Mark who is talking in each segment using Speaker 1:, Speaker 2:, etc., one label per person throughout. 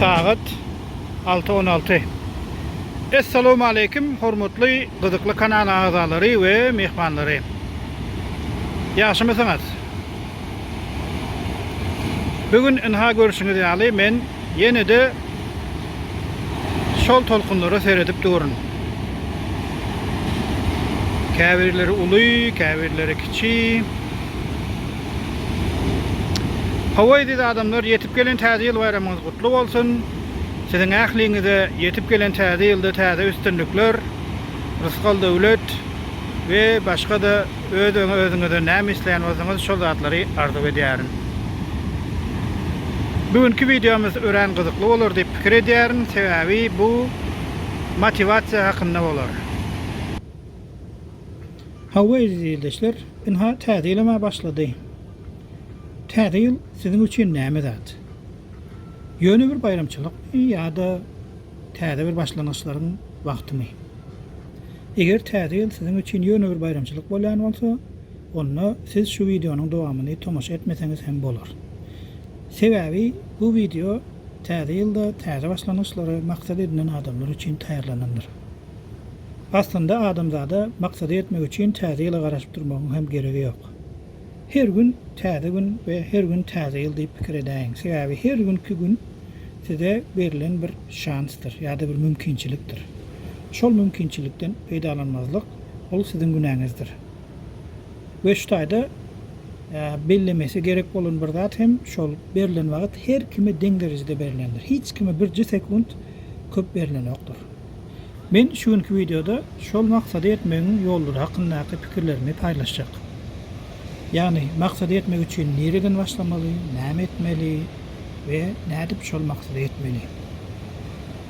Speaker 1: Sagat alty on alty. Essalawmaleýkim hormatly Gyzykly kanal agzalary we myhmanlary. Ýagşymysyňyz? Bu gün ynha görşüňiz ýaly men ýene-de Şol tolkunlara seredip durun. Käbirleri uly, käbirleri kiçi. Hawa eziz adamlar, ýetip gelen täze ýyl baýramyňyz gutly bolsun. Siziň ähliňize ýetip gelen täze ýylda täze üstünlikler, rysgal-döwlet we başga-da Öz özüňize näme isleýän bolsaňyz şol zatlary arzuw edýärin. Bu günki wideomyz örän gyzykly bolar diýip pikir edýärin, sebäbi bu motiwasiýa hakynda bolar. Hawa eziz ildeşler, ynha täze ýylam-a başlady. Täze ýyl siziň üçin näme zat? Ýöne bir baýramçylykmy ýa-da täze bir başlangyçlaryň wagtymy? Eger Täze ýyl siziň üçin ýöne bir baýramçylyk bolýan bolsa, onda siz şu wideonyň dowamyny tomaşa etmeseňiz hem bolar. Sebäbi bu wideo Täze ýylda täze başlangyçlary maksat edinen adamlar üçin taýýarlanandyr. Aslynda adamzada maksada ýetmek üçin Täze ýyla garaşyp durmagyň hem geregi ýok. Her gün täze gün we her gün täze ýyl diýip pikir edäýiň. Sebäbi her günki gün size berlen bir şansdyr ýa-da bir mümkinçilikdir. Şol mümkinçilikden peýdalanmazlyk, ol siziň günäňizdir. We şu taýda bellemesi gerek bolan bir zat hem şol, berlen wagt her kime deň derejede berlendir. Hiç kime birje sekunt köp berlenokdur. Men şu günki wideoda şol maksada ýetmegiň ýollary hakyndaky pikirlerimi paýlaşjak. Ýagny maksada ýetmek üçin nireden başlamaly, näme etmeli we nädip şol maksada ýetmeli.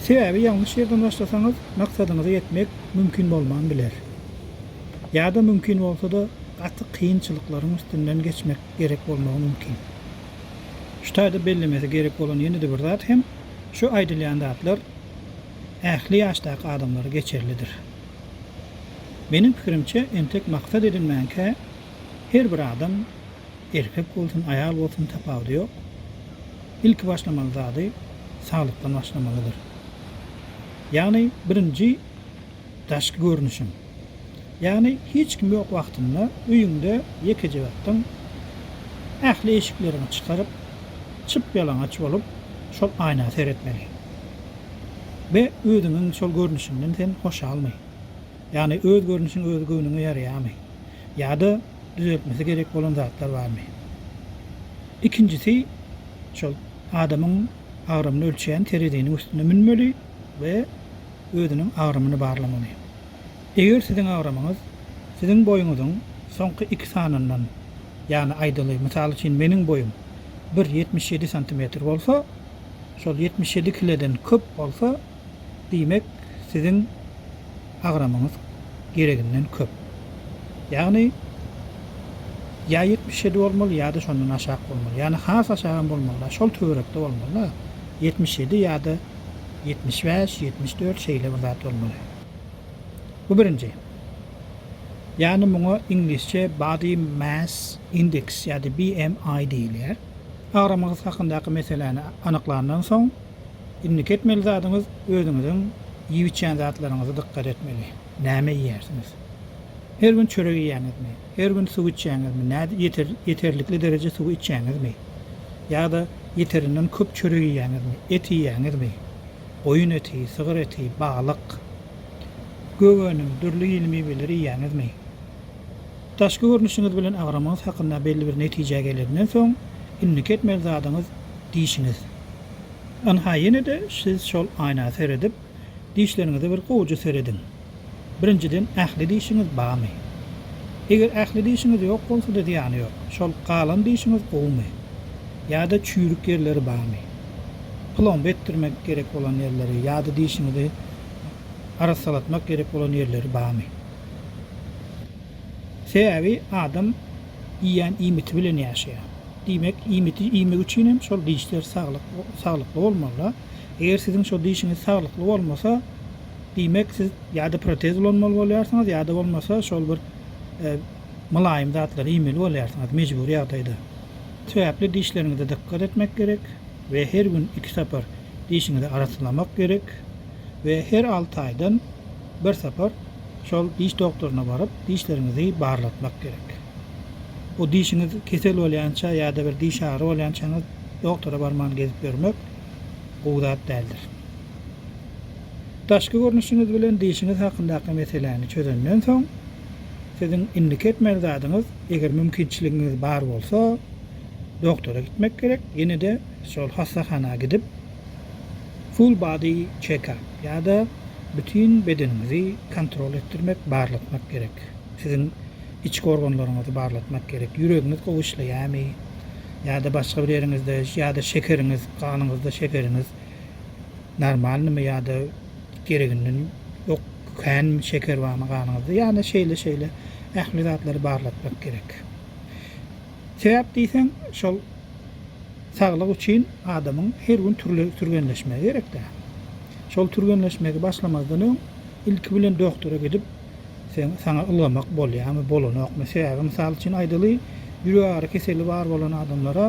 Speaker 1: Sebäbi ýalňyş ýerden başlasaňyz maksadyňyza ýetmek mümkin bolman biler. Ýa-da mümkin bolsa-da gaty kynçylyklaryň üstünden geçmek gerek bolmagy mümkin. Şu taýda bellemesi gerek bolan ýene-de bir zat hem şu aýdylýan zatlar ähli ýaşdaky adamlara geçerlidir. Meniň pikirimçe, entek maksat edinmänkä, her bir adam, erkek bolsun, aýal bolsun, tapawudy ýok, ilki başlamaly zady saglykdan başlamalydyr. Ýagny, birinji. Daşky görnüşiň. Ýagny hiç kim ýok wagtynda öýüňde ýekeje ýatdyň. Ähli eşikleriňi çykaryp, çyp-ýalaňaç bolup şol aýna seretmeli. Be, özüňiň şol görnüşiňden sen hoşalmy? Ýagny öz görnüşiň öz göwnüňe ýaraýarmy? Ýa-da düzeltmesi gerek bolan zatlar barmy? Ikinjisi, şol adamyň agramyny ölçeýän tereziniň üstüne münmeli we özüniň agramyny barlamaly. Eger siziň agramyňyz siziň boýuňyzyň soňky iki sanyndan, ýagny aýdaly, mysal üçin meniň boýum bir ýetmiş ýedi santimetr bolsa, şol ýetmiş ýedi kileden köp bolsa, diýmek siziň agramyňyz gereginden köp. Ýagny ýa ýetmiş ýedi bolmaly ýa-da şondan aşak bolmaly. Ýagny has aşagam bolmaly-da, şol töwerekde bolmaly-da, ýetmiş ýedi ýa-da. Ýetmiş bäş, ýetmiş dört şeýle bir zat bolmaly. Bu birinji. Ýagny muňa iňlisçe Body Mass Index ýa-da BMI diýilýär. Agramyňyz hakyndaky meseläni anyklandan soň, indiki etmeli zadyňyz özüňiziň iýip-içýän zatlaryňyza dykgat etmeli. Näme iýýärsiňiz? Her gün çörek iýýäňizmi? Her gün suw içýäňizmi? Nädip ýeter, ýeterlikli dereje suwy içýäňizmi? Ýa-da ýeterinden köp çörek iýýäňizmi? Et iýýäňizmi? Goýun eti, sygyr eti, balyk, gök önüm, dürli hili miweleri iýýäňizmi? Daşky görnüşiňiz bilen agramyňyz hakynda belli bir netijä geleninden soň, indiki etmeli zadyňyz dişiňiz. Ynha ýene-de siz şol aýna seredip, Dişleriňize bir gowja serediň. Birinjiden ähli dişiňiz bamy? Eger ähli dişiňiz ýok bolsada zyýany ýok. Şol galan dişiňiz gowumy? Ýada çüýrük ýerleri bamy? Plomba etdirmek gerek bolan ýerleri ýada dişiňizi arassalatmak gerek bolan ýerleri bamy? Sebäbi adam iýýän iýmiti bilen ýaşaýar. Diýmek iýmiti iýmek üçin hem şol dişler saglykly bolmalyda. Eger siziň şo dişiňiz saglykly bolmasa, diýmek siz ýa-da protez ulanmaly bolýarsyňyz ýa-da bolmasa şol bir mylaýym zatlary iýmeli bolýarsyňyz mejbury ýagdaýda. Sebäpli dişleriňize dykgat etmek gerek we her gün iki sapar dişiňizi arassalamak gerek we her alty aýdan bir sapar şol diş doktoryna baryp dişleriňizi barlatmak gerek. Bu dişiňiz kesel bolýança ýa-da bir diş agyry bolýançaňyz doktora barman gezip ýörmek gowy zat däldir. Daşky görnüşiňiz bilen dişiňiz hakyndaky meseläni çözenden soň, siziň indiki etmeli zadyňyz, eger mümkinçiligiňiz bar bolsa, doktora gitmek gerek, ýene-de şol hassahana gidip, full body check up ýa-da bütin bedeniňizi kontrol etdirmek, barlatmak gerek. Siziň Içki organlaryňyzy barlatmak gerek. Ýüregiňiz gowy işleýärmi? Ýa-da başga bir ýeriňizde, ýa-da şekeriňiz, ganyňyzda şekeriňiz normalnymy ýa-da gereginden ýok, känmi, şeker barmy ganyňyzda? Ýa-da şeýle-şeýle ähli zatlary barlatmak gerek. Sebäp diýseň, şol saglyk üçin adamyň her gün türle türgenleşmegi gerek-dä. Şol türgenleşmegi başlamazdan öň ilki bilen doktora gidip, Sen, saňa ylgamak bolýamy, bolanokmy? Sebäbi mysal üçin aýdaly, ýürek agyry keseli bar bolan adamlara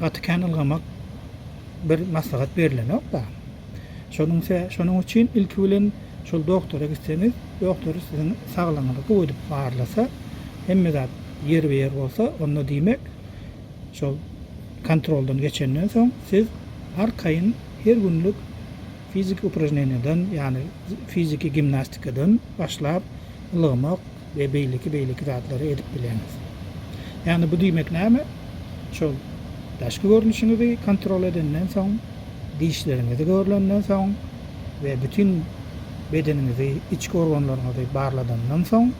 Speaker 1: gaty kän ylgamak bir maslahat berilenok-da. Şonuň se, şonuň üçin ilki bilen şol doktora gitseňiz, doktor siziň saglygyňyzy gowy edip barlasa, hemme zat ýerbe-ýer bolsa, onda diýmek, şol kontroldan geçenden soň siz arkaýyn her günlük Fiziki upražneniýadan, ýagny fiziki gimnastikadan başlap, ylgamak we beýleki beýleki zatlary edip bileňiz. Ýagny bu diýmek näme? Şol daşky görnüşiňizi kontrol edenden soň, dişleriňizi görlenden soň we bütin bedeniňizi, içki organlaryňyzy barladandan soň,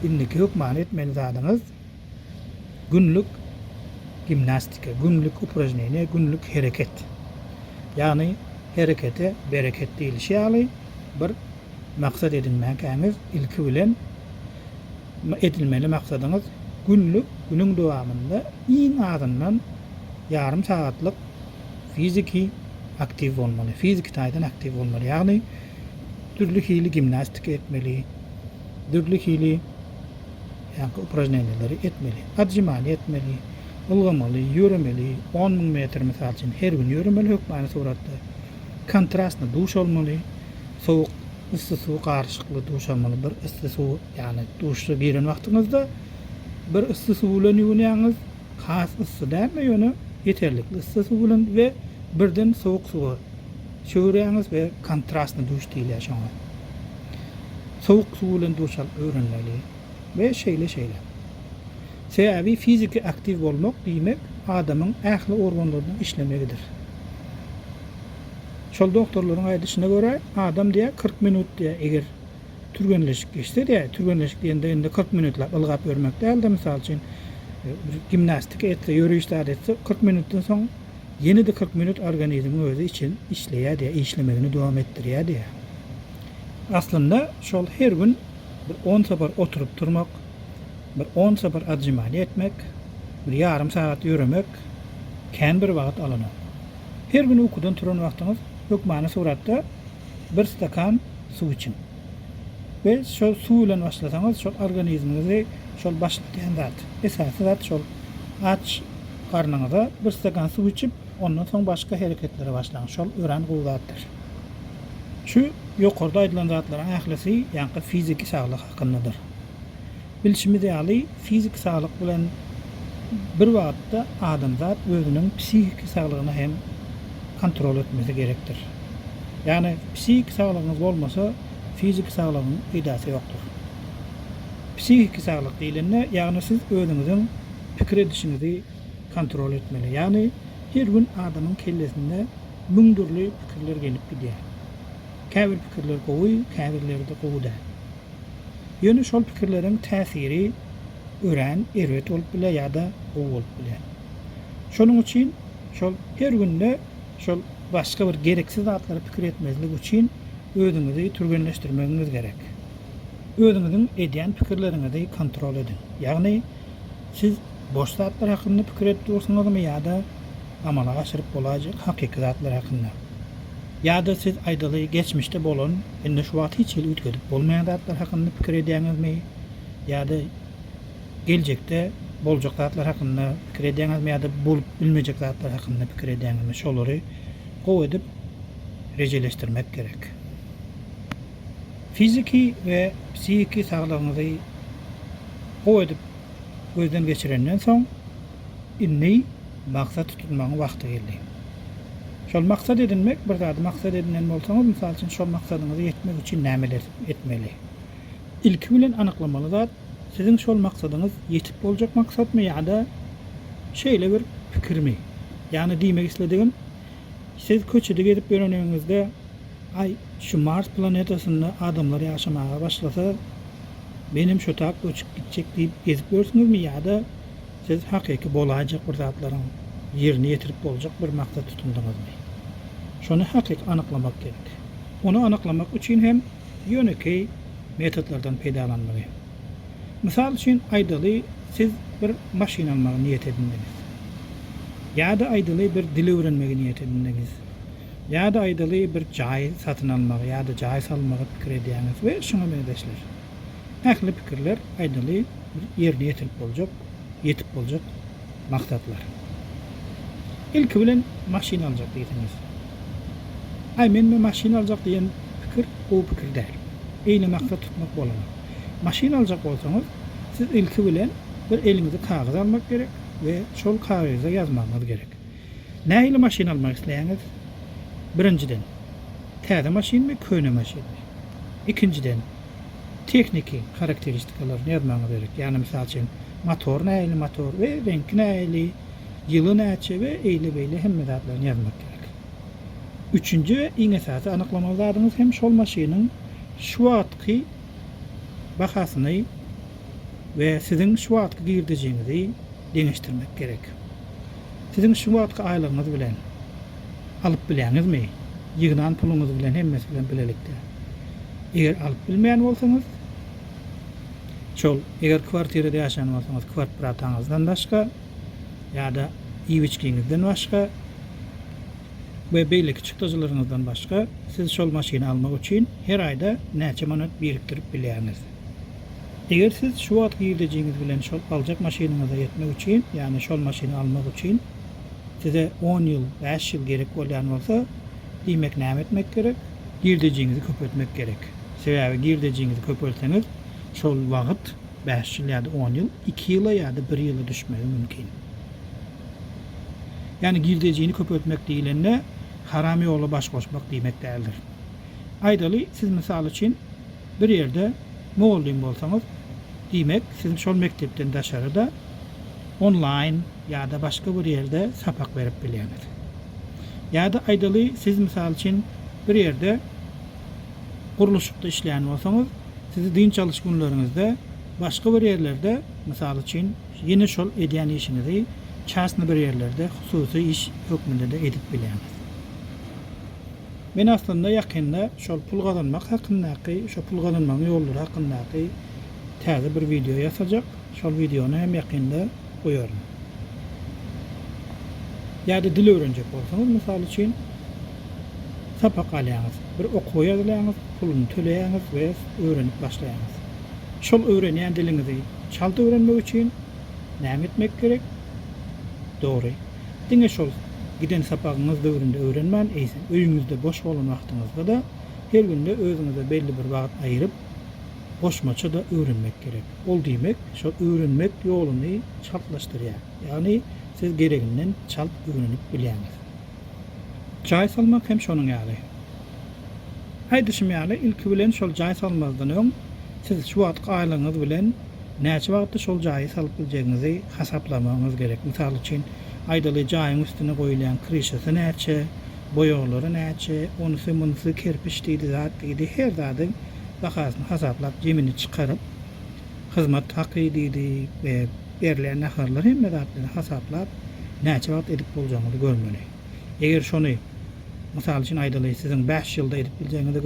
Speaker 1: indiki hökmany etmeli zadyňyz, günlük gimnastika, günlük upražneniýe, günlük hereket. Ýagny herekete bereket diýlişi ýaly bir maksat edinmäkäňiz ilki bilen edilmeli maksadyňyz günlük günüň dowamynda iň azyndan ýarym sagatlyk fiziki aktiw bolmaly, fiziki taýdan aktiw bolmaly. Ýagny dürli hili gimnastika etmeli, dürli hili ýaňky upražneniýaleri etmeli. Atžymany etmeli, ulgamaly, ýöremeli, on müň metr, mysal üçin, her gün ýöremeli hökmany suratda. Kontrastny duş almaly, sowuk, yssy suw garyşykly duş almaly. Bir yssy suw, ýagny duşa giren wagtyňyzda bir yssy suw bilen ýuwunýaňyz, has yssy däl-de, ýöne ýeterlikli yssy suw bilen we birden sowuk suwa çöwürýäňiz we kontrastny duş diýilýär şoňa. sowuk suw bilen duş alyp öwrenmeli we şeýle-şeýle. Sebäbi fiziki aktiw bolmak diýmek adamyň ähli organlarynyň işlemegidir. Şol doktorlaryň aýdyşyna görä, adam diýýär kyrk minut diýýär eger türgenleşik geçse diýýär, türgenleşik diýende indi kyrk minutlap ylgap ýörmek däl-de, mysal üçin, gimnastika etse, ýöriş zat etse, kyrk minutdan soň, Ýene-de kyrk minut organizmiň özi için işleýärdiýä, işlemegini dowam etdirýärdiýä. Aslynda şol her gün bir on sapar oturyp turmak, bir on sapar atžimaniýa etmek, bir ýarym sagat ýöremek kän bir wagt alanok. Her gün ukudan turan wagtyňyz hökmany suratda bir stakan suw içiň. We şol suw bilen başlasaňyz şol organizmiňizi şol başladýan zat. Esasy zat şol aç garnyňyza bir stakan suw içip ondan soň başga hereketlere başlaň şol örän gowy zatdyr. Şu ýokarda aýdylan zatlaryň ählisi ýaňky fiziki saglyk hakyndadyr. Bilşimiz ýaly, fiziki saglyk bilen bir wagtda adamzat özüniň psihiki saglygyny hem kontrol etmesi gerekdir. Ýagny, psihiki saglygyňyz bolmasa, fiziki saglygyň peýdasy ýokdur. Psihiki saglyk diýlende, ýagny siz özüňiziň pikir edişiňizi kontrol etmeli. Ýagny, her gün adamyň kellesinde müň dürli pikirler gelip gidýär. Käbir pikirler gowy, käbirleri-de gowy däl. Ýöne şol pikirleriň täsiri örän erbet bolup biler ýa-da gowy bolup biler. Şonuň üçin şol her günde şol başga bir gereksiz zatlara pikir etmezlik üçin özüňizi türgenleşdirmegiňiz gerek. Özüňiziň edýän pikirleriňizi kontrol ediň. Ýagny Siz boş zatlar hakynda pikir edip dursuňyzmy ýa-da amala aşyryp bolaýjak hakyky zatlar hakynda? Ýa-da siz aýdaly geçmişde bolan, indi şu wagt hiç hili üýtgedip bolmaýan zatlar hakynda pikir edýäňizmi? Ýa-da geljekde boljak zatlar hakynda pikir edýäňizmi ýa-da bolup bilmejek zatlar hakynda pikir edýäňizmi? Şolary gowy edip rejeleşdirmek gerek. Fiziki we psihiki saglygyňyzy gowy edip gözden geçirenden soň, indi maksat tutunmagyň wagty geldi. Şol maksat edinmek, bir zady maksat edinen bolsaňyz, mysal üçin, şol maksadyňyza ýetmek üçin nämeler etmeli? Ilki bilen anyklamaly zat, siziň şol maksadyňyz ýetip boljak maksatmy ýa-da şeýle bir pikirmi? Ýagny diýmek isledigim, siz köçede gezip ýöreniňizde, Aý, şu Mars planetasynda adamlar ýaşamaga başlasa, menem şotap göçüp gitjek diýip gezip ýörsüňizmi ýa-da siz hakyky bolaýjak bir zatlaryň ýerine ýetirip boljak bir maksat tutundyňyzmy? Şony hakyky anyklamak gerek. Ony anyklamak üçin hem ýönekeý metodlardan peýdalanmaly. Mysal üçin aýdaly siz bir maşyn almagy niýet edindiňiz. Ýa-da aýdaly bir dil öwrenmegi niýet edindiňiz. Ýa-da aýdaly bir jaý satyn almagy ýa-da jaý salmagy pikir edýäňiz we şuňa meňzeşler. Ähli pikirler aýdaly bir ýerine ýetirip boljak, ýetip boljak maksatlar. Ilki bilen maşyn aljak diýseňiz. Aý men me maşyn aljak diýen pikir gowy pikir däl. Eýle maksat tutmak bolanok. Maşyn aljak bolsaňyz, siz ilki bilen bir eliňize kagyz almak gerek we şol kagyza ýazmagyňyz gerek. Nähili maşyn almak isleýäňiz? Birinjiden, täze maşynmy, köne maşynmy? Ikinjiden, tehniki harakteristikalarny ýazmagyňyz gerek. Ýagny, mysal üçin, motor nähili motor we reňki nähili, ýyly näçe we eýle beýle hemme zatlaryny ýazmak gerek. Üçünji we iň esasy anyklamaly zadyňyz hem şol maşynyň şu wagtky bahasyny we siziň şu wagtky girdejiňizi, deňeşdirmek gerek. Siziň şu wagtky aýlygyňyz bilen alyp bileňizmi? Ýygnan puluňyz bilen hemmesi bilen bilelikde. Eger alyp bilmeýän bolsaňyz, şol eger kwartirada ýaşaýan bolsaňyz kwarprataňyzdan başga ýa-da iýip-içgiňizden başga we beýleki çykdajylaryňyzdan başga siz şol maşyny almak üçin her aýda näçe manat birikdirip bilýäňiz? Eger siz şu wagt girdejiňiz bilen şol aljak maşynyňyza ýetmek üçin, ýagny şol maşyny almak üçin size on ýyl, bäş ýyl gerek bolýan bolsa, diýmek näme etmek gerek? Girdejiňizi köpeltmek gerek. Sebäbi girdejiňizi köpeltseňiz, şol wagt, bäş ýyl ýa-da on ýyl, iki ýyla ýa-da bir ýyla düşmegi mümkin. Ýagny girdejini köpeltmek diýlende, haram ýola baş goşmak diýmek däldir. Aýdaly, siz mysal üçin, Bir ýerde mugallym bolsaňyz, diýmek, siz şol mekdepden daşary-da, onlaýn ýa-da başga bir ýerde sapak berip bilýäňiz. Ýa-da aýdaly, siz, mysal üçin, bir ýerde gurluşykda işleýän bolsaňyz, sizi dynç alyş günleriňizde başga bir ýerlerde, mysal üçin, ýene şol edýän işiňizi çastny bir ýerlerde, hususy iş hökmünde-de edip bilýäňiz. Men aslynda ýakynda şol pul gazanmak hakyndaky, şo pul gazanmagyň ýollary hakyndaky täze bir wideo ýasajak. Şol wideony hem ýakynda goýaryn. Ýa-da dil öwrenjek bolsaňyz, mysal üçin, sapak alýaňyz, bir okuwa ýazylaňyz, puluny töleýäňiz we öwrenip başlaýaňyz. Şol öwrenýän diliňizi çalt öwrenmek üçin näme etmek gerek? Dogry. Diňe şol giden sapagyňyz döwründe öwrenmän, eýsem, öýüňizde boş bolan wagtyňyzda-da, her günde özüňize belli bir wagt aýryp, goşmaça-da öwrenmek gerek. Ol diýmek, şol öwrenmek ýoluny çaltlaşdyrýar. Ýagny, siz gereginden çalt öwrenip bilýäňiz. Jaý salmak hem şonuň ýaly. Aýdyşym ýaly, ilki bilen şol jaý salmazdan öň, siz şu wagtky aýlygyňyz bilen näçe wagtda şol jaýy salyp biljegiňizi hasaplamagyňyz gerek. Mysal üçin, aýdaly, jaýyň üstüne goýulýan kryşasy näçe, boýaglary näçe, onusy, munusy, kerpiç diýdi, zat diýdi, her zadyň bahasyny hasaplap, jemini çykaryp, hyzmat haky diýdi we berilýän naharlar hemme zatlary hasaplap, näçe wagt edip boljagyňyzy görmeli. Eger şony, mysal üçin aýdaly, siziň bäş ýylda edip biljegiňize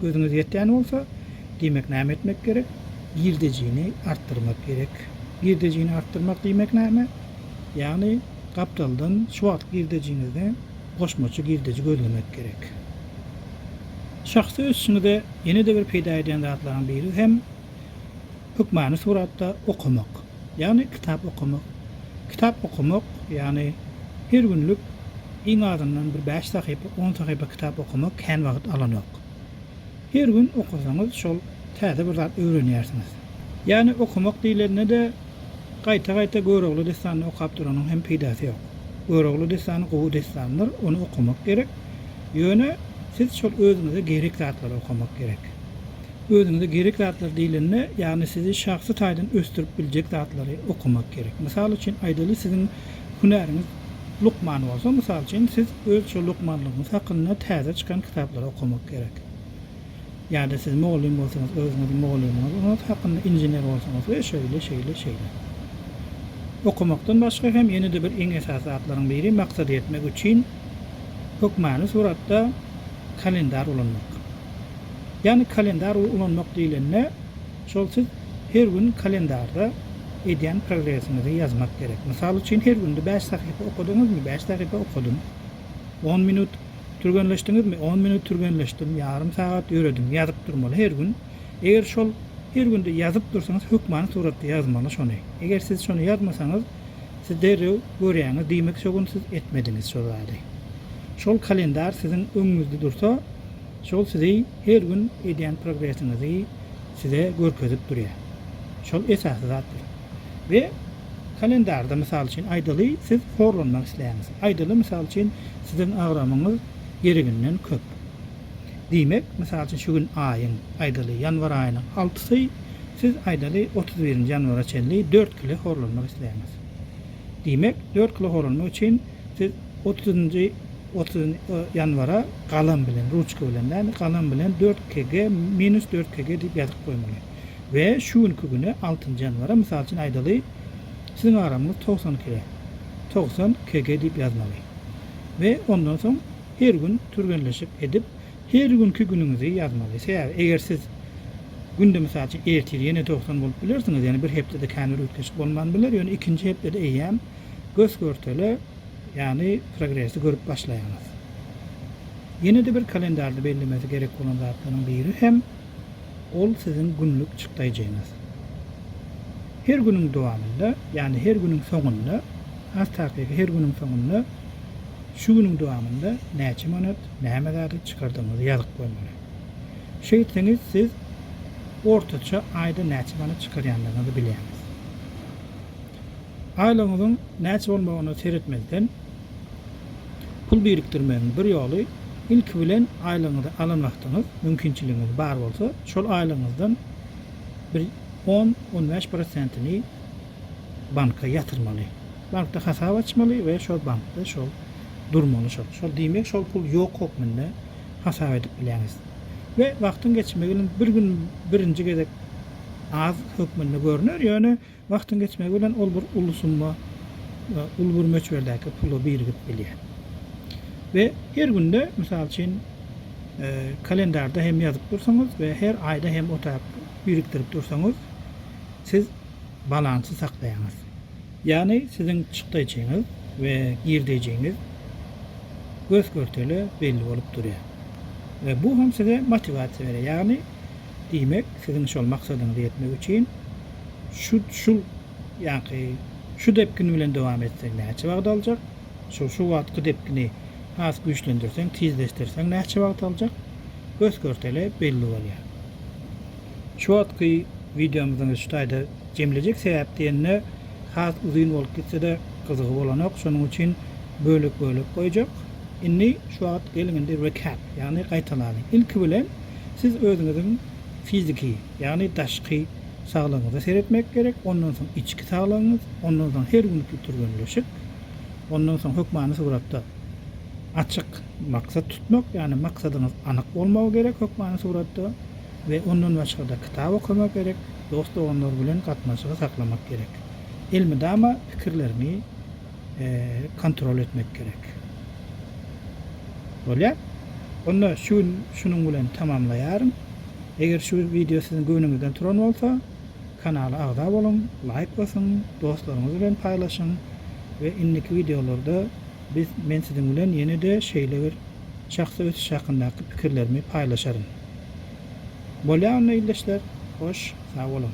Speaker 1: gözüňiz ýetýän bolsa, diýmek näme etmek gerek? Girdejini artdyrmak gerek. Girdejini artdyrmak diýmek näme? Ýagny, gapdaldan şu wagtky girdejiňizde goşmaça girdeji gözlemek gerek. Şahsy ösüşiňize ýene-de bir peýda edýän zatlaryň biri hem, Hökmany suratda okamak, ýagny kitap okamak. Kitap okamak, ýagny her günlük iň azyndan bir bäş sahypa, on sahypa kitap okamak kän wagt alanok. Her gün okasaňyz şol täze bir zat öwrenýärsiňiz. Ýagny okamak diýlende-de gaýta-gaýta Görogly dessanyny okap duranyň hem peýdasy ýok. Görogly dessany gowy dessandyr, ony okamak gerek. Ýöne siz şol özüňize gerek zatlary okamak gerek. Özüňize gerek zatlar diýlende, ýagny sizi şahsy taýdan ösdürip biljek zatlary okamak gerek. Mysal üçin aýdaly siziň hünäriňiz lukman bolsa, mysal üçin siz öz şo lukmanlygyňyz hakynda täze çykan kitaplary okamak gerek. Ýa-da siz mugallym bolsaňyz özüňiz mugallymyňyz hakynda, inžener bolsaňyz we şeýle şeýle şeýle. Okamakdan başga hem ýene-de bir iň esasy zatlaryň biri maksada ýetmek üçin hökmany suratda kalendar ulanmak. Ýagny kalendar ulanmak diýlende şol siz her gün kalendarda edýän progresiňizi ýazmak gerek. Mysal üçin her günde bäş sahypa okadyňyzmy? Bäş sahypa okadym. On minut türgenleşdiňizmi? On minut türgenleşdim. Ýarym sagat ýöredim. Ýazyp durmaly her gün. Eger şol her günde ýazyp dursaňyz hökmany suratda ýazmaly şony. Eger siz şony ýazmasaňyz, Siz derrew görýäňiz diýmek şo gün siz etmediňiz şo zady. Şol kalendar siziň öňüňizde dursa şol sizi her gün edýän progresiňizi size görkezip durýar. Şol esasy zatdyr. We kalendarda mysal üçin aýdaly siz horlanmak isleýäňiz. Aýdaly mysal üçin siziň agramyňyz gereginden köp. Diýmek, mysal üçin, şu gün aýyň, aýdaly, ýanwar aýynyň altysy, siz, aýdaly, otuz birinji ýanwara çenli dört kile horlanmak isleýäňiz. Diýmek, dört kile horlanmak üçin siz otuzynjy ýanwara galam bilen, ruçka bilen däl-de, galam bilen dört kg minus dört kg diýip ýazyp goýmaly. We şu günki güne, altynjy ýanwara, mysal üçin, aýdaly, siziň agramyňyz togsan kg, togsan kg diýip ýazmaly. We ondan soň, Her gün türgenleşik edip her günki günüňizi ýazmaly. Sebäbi eger siz günde mysal üçin ertir ýene dogsan bolup bilersiňiz, ýagny bir hepdede känbir üýtgeşik bolman biler, ýöne ikinji hepdede eýýäm gös-görtele ýagny progresi görüp başlaýaňyz. Ýene-de bir kalendarda bellemesi gerek bolan zatlaryň biri hem ol siziň günlük çykdaýjyňyz. Her günüň dowamynda, ýagny her günüň soňunda, has takygy her günüň soňunda, Şu günüň dowamynda näçe manat, näme zady çykardygyňyzy ýazyp goýmaly. Şeýtseňiz siz ortaça aýda näçe manat çykarýandygyňyzy bilýäňiz. Aýlygyňyzyň näçe bolmagyna seretmezden, pul birikdirmegiň bir ýoly, ilki bilen aýlygyňyzy alan wagtyňyz, mümkinçiligiňiz bar bolsa, şol aýlygyňyzdan bir on-on bäş prosentini, banka ýatyrmaly. Bankda hasap açmaly we şol bankda şol durmaly şol. Şol diýmek şol pul ýok hökmünde hasap edip bilýäňiz. We wagtyň geçmegi bilen bir gün birinji gezek az hökmünde görner, ýöne wagtyň geçmegi bilen ol bir uly summa, uly bir möçberdäki pula birigip bilýär. We her günde mysal üçin kalendarda hem ýazyp dursaňyz we her aýda hem otap birikdirip dursaňyz siz balansy saklaýaňyz. Ýagny siziň çykdaýjyňyz we girdeýjiňiz gös-görtele belli bolup durýar. We bu hem size motiwasiýa berýär. Ýagny diýmek siziň şol maksadyňyza ýetmek üçin şu şul ýaňky şu depgin bilen dowam etseň näçe wagt aljak, şol şu wagtky depgini has güýçlendirseň, tizleşdirseň näçe wagt aljak gös-görtele belli bolýar. Çotky wideomyzyň şu taýda jemlejek sebäp diýende has uzyn bolup gitsede gyzygy bolanok şonuň üçin bölek bölek goýjak. Indi şu wagt geliň indi recap ýagny gaýtalanyň. Ilki bilen siz özüňiziň fiziki ýagny daşky saglygyňyza seretmek gerek ondan soň içki saglygyňyz ondan soň her günki türgenleşik ondan soň hökmany suratda açyk maksat tutmak ýagny maksadyňyz anyk bolmagy gerek hökmany suratda We ondan başgada kitap okamak gerek, dost doganlar bilen gatnaşygy saklamak gerek. Elmydama pikirleriňi kontrol etmek gerek. Bolýa? Onda şu gün şunuň bilen tamamlaýaryn. Eger şu wideo siziň göwnüňizden turan bolsa, kanala agza boluň, laýk basyň, dostlaryňyz bilen paýlaşyň we indiki wideolarda biz men siziň bilen ýene-de şeýle bir şahsy ösüş hakyndaky pikirlerimi paýlaşaryn. Bolýa onda ildeşler, hoş sag boluň.